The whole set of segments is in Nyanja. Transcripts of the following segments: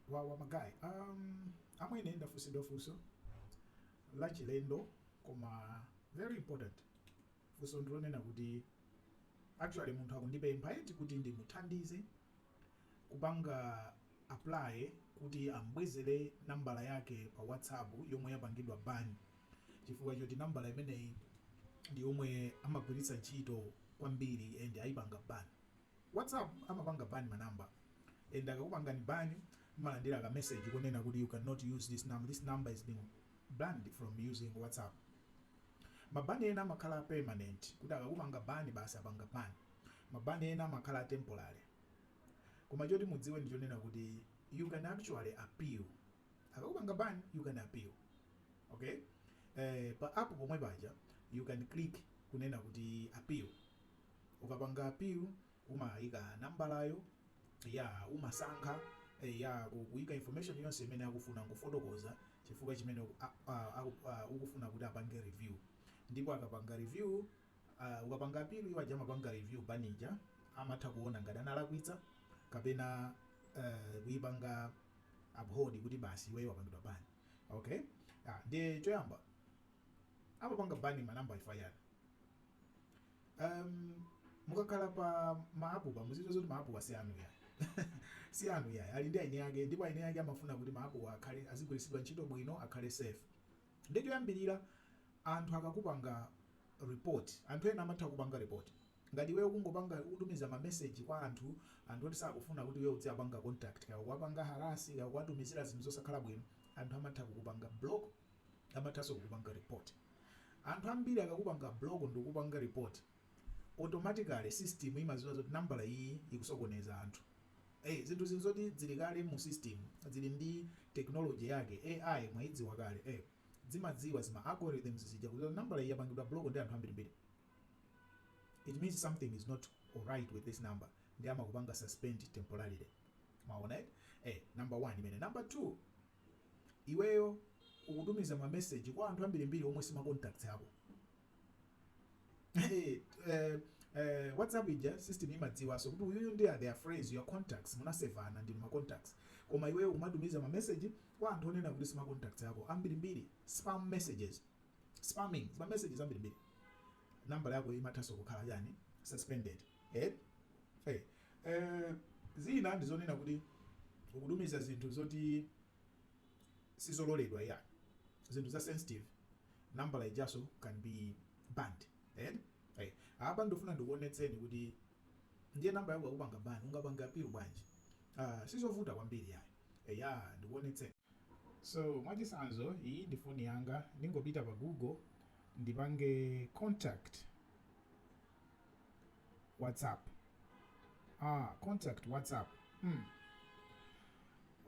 wawa ma guys um, amwene ndafunsidwa funso la chilendo koma very important funso ndilonena kuti actually munthu akundipempha eti kuti ndimuthandize kupanga apply kuti ambwezere nambala yake pa whatsapp yomwe yapangidwa ban chifukwa choti nambala imeneyi ndi yomwe amagwiritsa ntchito kwambiri and ayipanga ban Whatsapp amapanga ban ma number and akakupangani ban mmalandira ka message kunena kuti you can not use this number, this number is being banned from using whatsapp. Ma ban ena amakhala permanent kuti akakupanga ban basi apanga ban. Ma ban ena amakhala temporary. Koma choti mudziwe ndi chonena kuti you can actually appeal. Akakupanga ban you can appeal. Okay? Eh, pa app pomwe paja you can click kunena kuti appeal. ukapanga appeal umaika nambalayo ya umasankha ya ku kuika information yonse imene akufuna nkufotokoza chifukwa chimene uku- a- a- aku- a- ukufuna kuti apange review ndipo akapanga review uh, ukapanga appeal iwo aja amapanga review ban ija amatha kuona ngati analakwitsa kapena uh, kuipanga uphold kuti basi iweyo wapangidwa ban okay ah, ndiye choyamba amapanga ban manambala chifukwa chani um, mukakhala pa ma app apa mudziwe zoti ma app awa si anu yayi si anu yayi ali ndi eni ake ndipo eni ake amafuna kuti ma app ake azigwiritsidwa ntchito bwino akhale safe nde choyambirira anthu akakupanga report anthu ena amatha kukupanga report ngati iweyo ukungopanga kutumiza mameseji kwa anthu anthu oti sakufuna kuti iwe udziwapanga contact kaya kuwapanga harass kaya kuwatumizira zinthu zosakhala bwino anthu amatha kukupanga block amathanso kukupanga report. Anthu ambiri akakupanga block ndikukupanga report, automatically system imaziwa zoti nambala iyi ikusokoneza anthu. Ei, zinthu zi nzoti zili kale mu system, zili ndi technology yake, AI mwayidziwa kale, ei, zimadziwa zima algorithms zija kuti nambala iyi yapangidwa block ndi anthu ambirimbiri. It means something is not alright with this number, nde amakupanga suspend temporarily. Mwaona eh? Eh, number one imeneyo. Number two, Iweyo ukutumiza ma message kwa anthu ambirimbiri omwe si ma contacts ako. Eh, eh, eh, WhatsApp ija system imadziwanso kuti uyuyu ndi a are they friends your contacts munasevana ndi ma contacts. Koma iweyo kumatumiza ma message kwa anthu onena kuti si ma contacts ako ambirimbiri spam messages. Spamming ma messages ambirimbiri. Nambala yako imathanso kukhala chani suspended. Eh? Hey. Eh. Eh, zina ndizonena kuti ukutumiza zinthu zoti sizololedwa ya zinthu za sensitive nambala ijaso can be banned eh? eh. apa ndifuna ndikuonetseni kuti ndiye nambala yako akupanga ban ungapanga appeal bwanji uh, sizovuta kwambiri yayi eya ndikuonetseni so mwachisanzo iyi ndi foni yanga ndingopita pa google ndipange contact whatsapp ah, contact whatsapp hmm.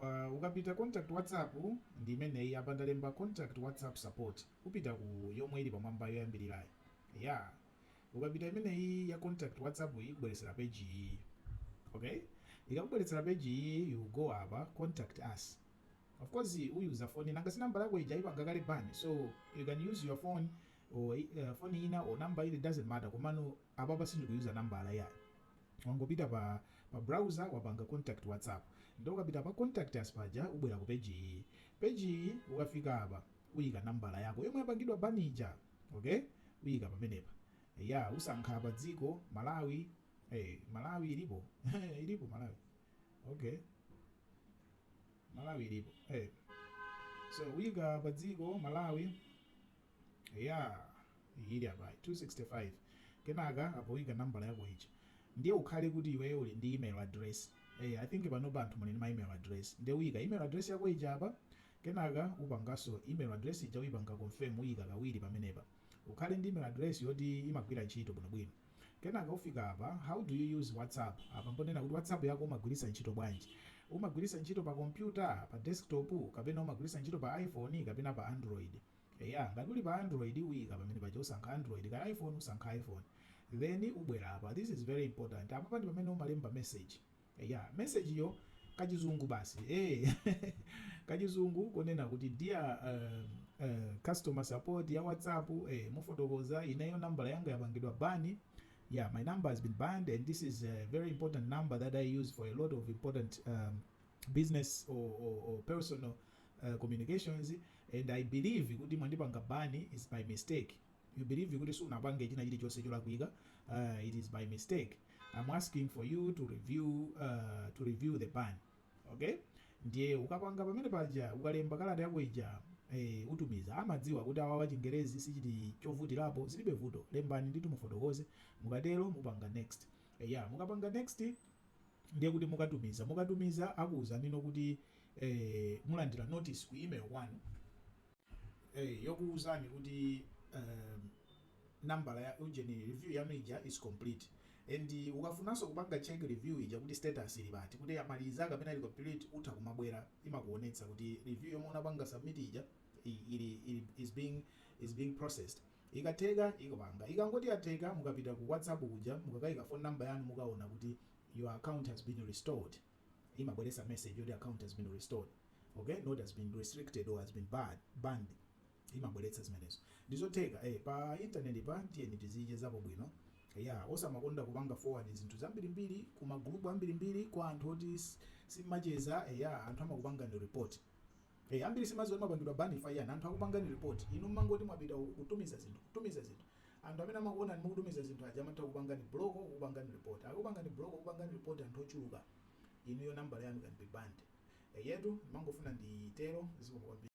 Uh, ukapita contact whatsapp ndi imeneyi apa ndalemba contact whatsapp support upita ku yomwe ili pamwamba yoyambirirayi ya yeah. ukapita imeneyi ya contact whatsapp iyi ikubweretsera page iyi okay ikakubweretsera page iyi you go apa contact us of course uyuza foni nanga si nambala yako ija ipanga kale ban so you can use your phone or phone ina or number it doesn't matter komano apapa sindikuyuza nambala yayi wangopita pa pa browser wapanga contact whatsapp ndiye ukapita pa contact us paja ubwera ku page iyi page iyi ukafika apa uyika nambala yako yomwe yapangidwa ban ija okay uyika pamenepa ya usankha pa dziko malawi hey, malawi ilipo ilipo malawi okay malawi ilipo hey. so uyika pa dziko malawi Eyaa iyi ili apayi 265 kenaka apo uika nambala yako ija ndiye ukhale kuti iweyo uli ndi email address eya i think panopa anthu muli ndi ma email address ndiye uika email address yako ija apa kenaka upanganso email address ija uipanga confirm uika kawiri pamenepa ukhale ndi email address yoti imagwira ntchito bwinobwino kenaka ufika apa how do you use whatsapp apa mponena kuti whatsapp yako umagwiritsa ntchito bwanji umagwiritsa ntchito pa kompyuta pa desktop kapena umagwiritsa ntchito pa iphone kapena pa android Eya ngati uli pa android uika pamenepaja usankha android kaya iphone usankha iphone then ubwera apa this is very important apapa ndi pamene umalemba message eya message-yo kachizungu basi eh kachizungu konena kuti dear um, uh, customer support ya whatsapp eh mufotokoza ineyo nambala yanga yapangidwa ban yeah my number has been banned and this is a very important number that i use for a lot of important um, business or, or, or personal uh, communications and i believe kuti mwandipanga ban is by mistake you believe kuti sunapange china chilichonse cholakwika uh, it is by mistake i'm asking for you to review uh, to review the ban okay ndiye ukapanga pamenepaja ukalemba kalata yako ija eh, utumiza amadziwa kuti awawa chingerezi si chili chovutirapo zilibe vuto lembani ndithu mufotokoze mukatero mupanga next eh, ya mukapanga next ndiye kuti mukatumiza mukatumiza akuuzani no kuti eh, mulandira notice ku email kwanu eh, yokuuzani kuti eh, nambala ya ujeni review yanu ija is complete and ukafunanso kupanga check review ija kuti status ili pati kuti amaliza kapena ili complete utha kumabwera imakuonetsa kuti review yomwe unapanga submit ija i- ili, ili is being is being processed Ikatheka ikapanga. Ikangoti yatheka mukapita ku WhatsApp kuja mukakaika phone number yanu mukaona kuti your account has been restored imabweretsa message yoti account has been restored okay not has been restricted or has been barred banned imabweretsa zimenezo ndizotheka eh pa internet pa tiyeni tizichezapo bwino ya osamakonda kupanga forward zinthu zambirimbiri ku magroup ambirimbiri kwa anthu oti s- simacheza eh, ya anthu amakupangani report Eee ambiri simaziwa oti mmapangidwa ban chifukwa anthu akupangani report inu mmangoti mwapita uku kutumiza zinthu kutumiza zinthu anthu amene amakuonani mukutumiza zinthu aja amatha kukupangani block kukupangani report akakupangani block kukupangani report anthu ochuluka inuyo nambala yanu can be banned eyetu ndimangofuna nditero zikomo kwambiri.